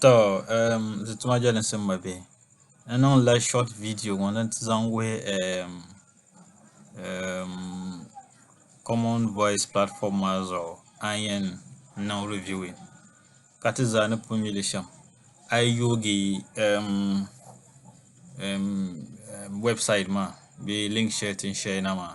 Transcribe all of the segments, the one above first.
To um, zituma jɛlinsi m mabihi n niŋla short video ŋɔ ni ti zaŋ wuhi um, um, common voice platform maa zuɣu a yɛn niŋ reviewing ka ti zaa ni pun mi li shɛm a yi yoogi um, um, um, website maa bee link shɛli tin shɛli na maa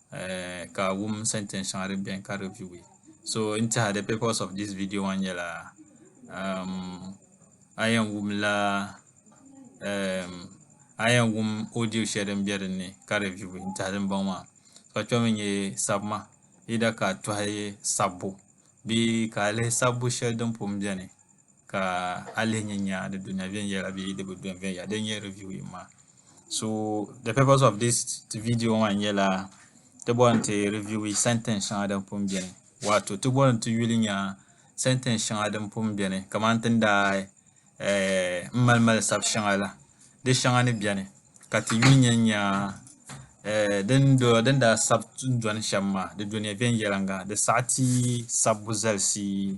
eh, ka a wum sentence shɛŋa din beni ka di viwi. So n tiɛha the purpose of this video ŋɔ nyɛla um, a yɛn wumla um, a yɛn wum audio shɛli din be dinni ka di viwi n tiɛha din bɔŋɔ maa ka kpɛmi nyɛ sabima ida ka a tɔhi sabbu bee ka a lihi sabbu shɛli din pun beni. ka a lihi nyɛ nya di dunia viɛnyɛla bee di bi dɔn viɛnyɛla din nyɛ review yim maa so the purpose of this video maa nyɛla ti bɔri n ti review sentence shɛŋa din pun bɛni waato ti bɔri n ti yuli nya sentence shɛŋa din pun bɛni kamani tin daa eh, n mali mali sabi shɛŋa la di shɛŋa ni bɛni ka ti yuli nya nya eh, din do din daa sabi dundɔni shɛm maa di dunia viɛnyɛlinga di saɣati sabbu zalisi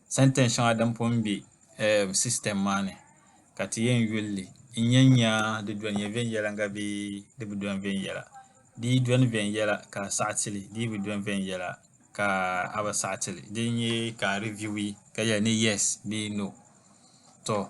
Sentence shɛŋa din pun be um system maa ni ka ti yɛn yuli li n-nyɛ Nya di dɔni nyɛ viɛnyɛliŋga bee di bi dɔni viɛnyɛla? Di yi dɔni viɛnyɛla ka a saɣi ti li, di yi bi dɔni viɛnyɛla ka a bi saɣi ti li. Di n-nyɛ ka a riviui ka yɛli ni yes bee no. To.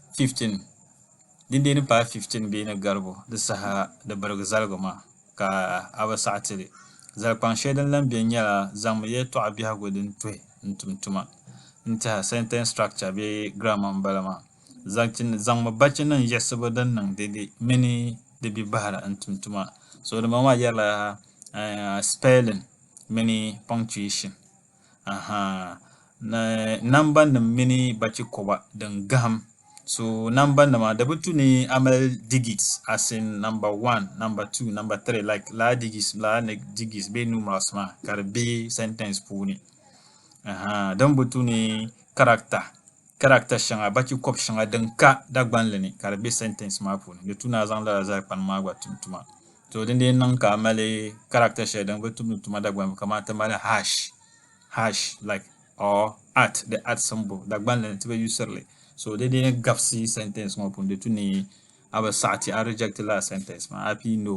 15 din dee ni paai 15 bee ni garibu di saha di birigi zaligu maa ka a bi saɣi ti li. Zali kpaŋ shɛli din lan beni nyɛla zaŋmi yɛltɔɣa biɛhigu din tuhi n-tum tuma n-tɛha, sentence structure bee grammar m-bala maa. Zaŋmi bachinnim yiɣisibu din niŋ dede mini di bi bahira n-tum tuma. So dimbɔŋɔ maa yɛrila spelling mini punctuation. Ahaa. Ni namba nim mini bachi koba din gahim. So namba nima di bi tu ni a mali digits as in namba one, namba two, namba three like laa digits laa ni digits bee numerals maa ka di be sentence puuni. Ahaa. Din bi tu ni character. Character shɛŋa bachi kob shɛŋa din ka Dagbanli ni ka di be sentence maa puuni. Di tu ni a zaŋ lala zali kpani maa gba tum tuma. To din dee niŋ ka a mali character shɛli din bi tumdi tuma Dagbani kamani ti mali hash, hash like or at, the at symbol, Dagbani ni ti bi yusiri li. So di dee ni gabisi sentence ŋɔ puuni di tu ni a bi saɣi ti a reject lala sentence maa a pii no.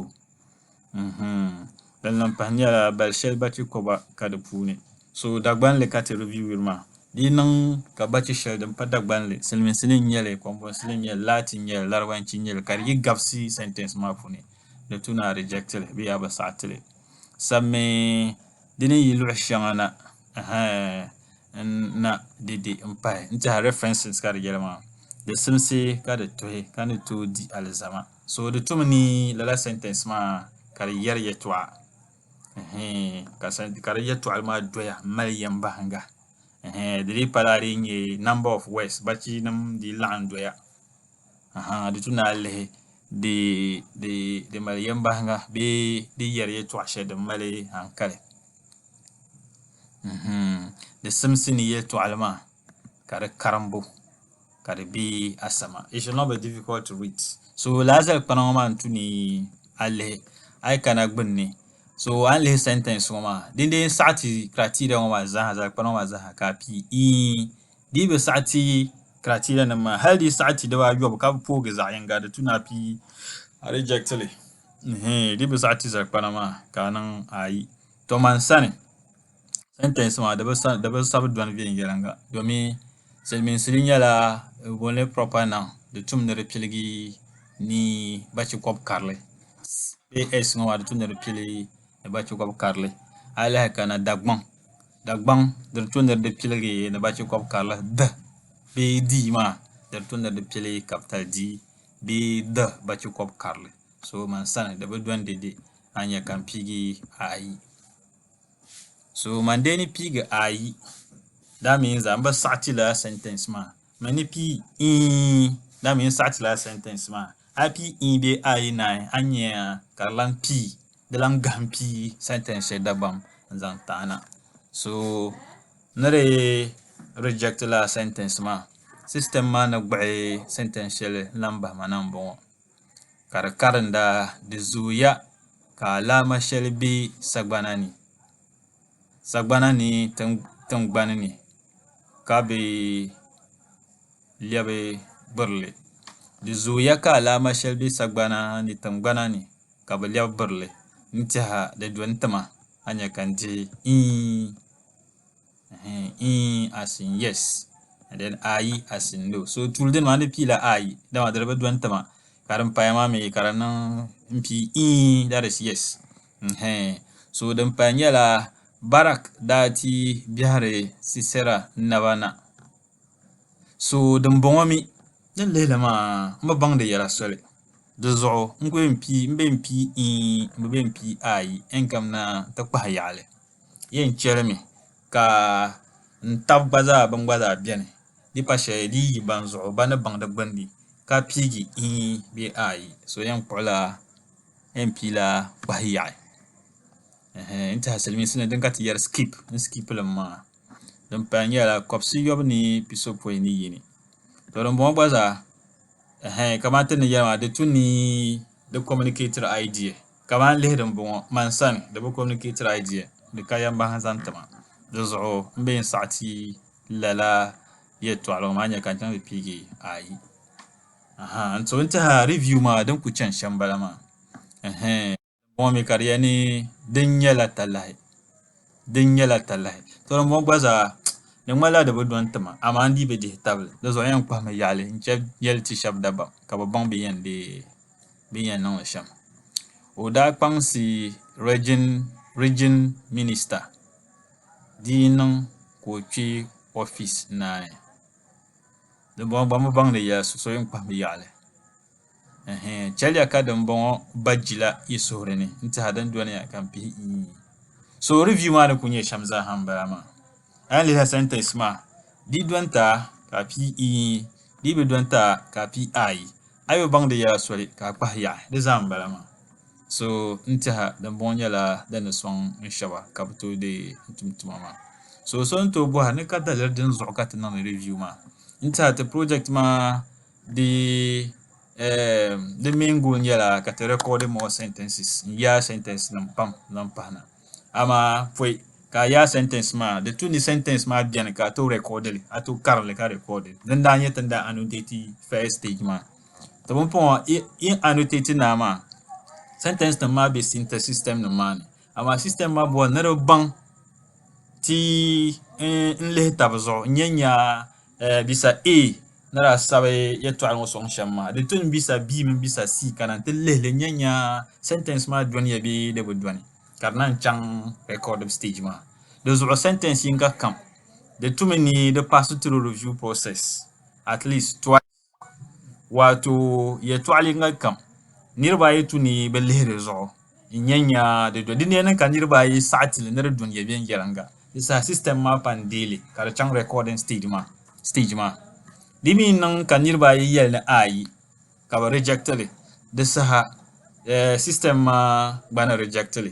Din lahi pahi nyɛla bali shɛli bachi kɔba ka di puuni. So Dagbanli ka ti review yuri maa. Di yi niŋ ka bachi shɛli din pa Dagbanli, Silimiinsi ni n-nyɛ li, Kɔmbonsi ni n-nyɛ li, Laati n-nyɛ li, Laribanchi n-nyɛ li, ka di yi gabisi sentence maa puuni, di tu ni a reject li bee a bi saɣi ti li. Sabimi di ni yi luɣi shɛŋa na, ɛhɛɛn, n na di di m-pahi n-tɛha references ka di yɛli maa. Di simsi ka di tuhi ka ni tooi di alizama. So di tumi ni lala sentence maa ka di yɛri yɛtɔɣa. ka di yɛtɔɣali maa doya mali yɛn bahinga di dii pala di nyɛ namba of wɛds bachi nim n dii laɣam doya di ti naai lihi di mali yɛn bahinga bee di yɛri yɛtɔɣa shɛli din mali hankali di simsi ni yɛtɔɣali maa ka di karimbu ka di be asama. It should not be difficult to read. So laazali kpana ŋɔ maa n tu ni a lihi a yi kana gbunni so a ni lihi sentence ŋɔ maa din dee n saɣi ti criteria ŋɔ maa zaaha zali kpana ŋɔ maa zaaha ka a pii ii dii bi saɣi ti criteria nim maa hali di saɣi ti dibaa yɔbu ka bi poogi zaɣ yinga di tu ni a pii a reject li di bi saɣi ti zali kpana maa ka a niŋ ayi to man sani Sentence maa di bi sabi dɔni viɛnyɛliŋga domin silimiinsili nyɛla the only proper noun di tum ni di piligi ni bachikɔb karili AS ŋɔ maa di tum ni di piligi ni bachikɔb karili a yi lahi kana Dagbaŋ Dagbaŋ di tum ni di piligi ni bachikɔb karili the bee the maa di tum ni di piligi capital D bee the bachikɔb karili so man sani di bi dɔni dede a ni nya ka m piigi a ayi. So man dee ni piigi ayi, that means a mi saɣi ti lala sentence maa. Man ni pii ii, that means saɣi ti lala sentence maa. A pii ii bee ayi naai, a ni nya ka di lan pii, di lan gahim pii sentence shɛli dabam n-zaŋ ti a na. So ni di reject lala sentence maa, system maa ni gbuɣi sentence shɛli n-lan bahi ma na m-bɔŋɔ. ka di karinda di zooya ka alaama shɛli bɛ sagbana ni sagbana ni tingbani ni ka bi lɛbi birili di zooya ka alaama shɛli bɛ sagbana ni tingbana ni ka bi lɛbi birili n tiɛha di do n tiŋa a ni nyɛ ka n dihi iin in as in yes and then ayi as in no so tuuli dini maa di piila ayi dama diri bi do n tiba ka din paya maa mi ka di niŋ n pi in that is yes so din paya nyɛla barak daa ti biɛhiri sisɛra naba na so dimbɔŋɔ mi din lihili maa n bi baŋ di yɛla soli Di zuɣu n ku yɛn pii, m-be n pii ii, m bi be n pii ayi, n kam na ti kpahi yaɣili. Yɛn chɛli mi ka n tab gba zaa bɛn gba zaa beni, di pa shɛli di yi ban zuɣu bɛn ni baŋ di gbindi ka piigi ii bee ayi, so yɛn kpuɣi la yɛn pii la kpahi yaɣi. Ɛhɛ n tɛha silimiinsi ni din ka ti yɛri skip, n skip li mi maa. Din paya nyɛla kɔbisiyɔbu ni pisopɔin ni yini. To dimbɔŋɔ gba zaa. Ɛhɛn, kamani ti ni yɛli maa, di tu ni di communicator idea. Kamani lihi din bɔŋɔ, man sani di bi communicator idea, di ka yɛm bahi zaŋ tima. Di zuɣu m be n saɣi ti lala yɛtɔɣili ŋɔ maa nyɛ ka n chaŋ ti piigi ayi. Ɛhɛn, n tooi tihi a review maa din ku chani shɛm bala maa. Ɛhɛn. Dimbɔŋɔ mi ka di yɛli ni din nyɛla talahi din nyɛla talahi to dimbɔŋɔ gba zaa di ŋmanila di bi do n-tima amaa n dii bi dihi tabili di zuɣu yɛn kpahimi yaɣili n-che yɛli ti shɛba dabam ka bɛ baŋ bɛ yɛn deei bɛ ni yɛn niŋdi shɛm o daa kpaŋsi rɛgin rɛgin minista di yi niŋ ka o kpi ofiisi naai. Dimbɔŋɔ gba mi baŋ ni ya so yɛn kpahim yi yaɣili. Ɛhɛn, chɛliya ka dimbɔŋɔ ba jila yi suhuri ni n-tiha din doniya ka m-pihi ii. So review maa ni ku nyɛ shɛm zaaha m-bala maa. A ni lihiri sentence maa, di dɔni ta ka a pii ii, di bi dɔni ta ka a pii ayi. A yo baŋ di yɛla soli ka a kpahi yaɣi. Di zaa m-bala maa. So n tɛha dimbɔŋɔ nyɛla din ni sɔŋ n shɛba ka bi tooi deei n tum tuma maa. So so ni tooi bɔha ni ka daliri din zuɣu ka ti niŋdi review maa. N tɛha ti project maa di um, di main goal nyɛla ka ti record more sentences n yaa sentence nim pam zaŋ pahi na. Amaa pɔi ka a yaa sentence maa di tu ni sentence maa beni ka a tooi record li a tooi karinli ka record li din daa nyɛ tin daa annotate first stage maa. Ti bin pɔŋɔ yin annotate naa maa sentence nim maa be syntax system nim maa ni amaa system maa bɔri ni di baŋ ti n lihi tabi zuɣu n nya nya bisa A ni daa sabi yɛltɔɣa ŋɔ sɔŋ shɛm maa di tun bisa B mini bisa C kana n ti lihili n nya nya sentence maa dɔniya bee di bi dɔni ka di na n-chaŋ recording stage maa di zuɣu sentence yinga kam di tumi ni di pass through review process at least twice. wato yɛtɔɣili ŋa kam niriba ayi tu ni bɛ lihiri di zuɣu n-nya nya di doli di ni yɛn niŋ ka niriba ayi saɣi ti li ni di du n-yɛn viɛnyɛliŋga di saha sitɛm maa pa n-deei li ka di chaŋ rɛkɔɔdin sitɛji maa di mi niŋ ka niriba ayi yɛli ni ayi ka bɛ rijɛkiti li di saha sitɛm maa gba ni rijɛkiti li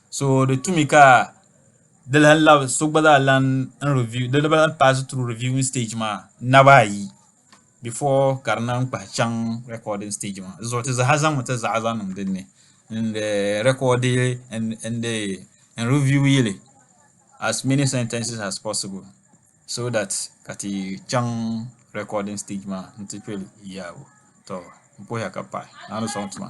So di tumi ka di lan labi so gba zaa lan n review di gba lan pass through reviewing stage maa naba ayi before ka di na n kpahi chaŋ recording stage maa di zuɣu ti zaha zaŋmi ti zaɣa zaŋ niŋ din ni n di record n di n review yili as many sentences as possible so that ka ti chaŋ recording stage maa n ti kpeli yaabu to n puhiya ka pahi na ni soŋ tuma.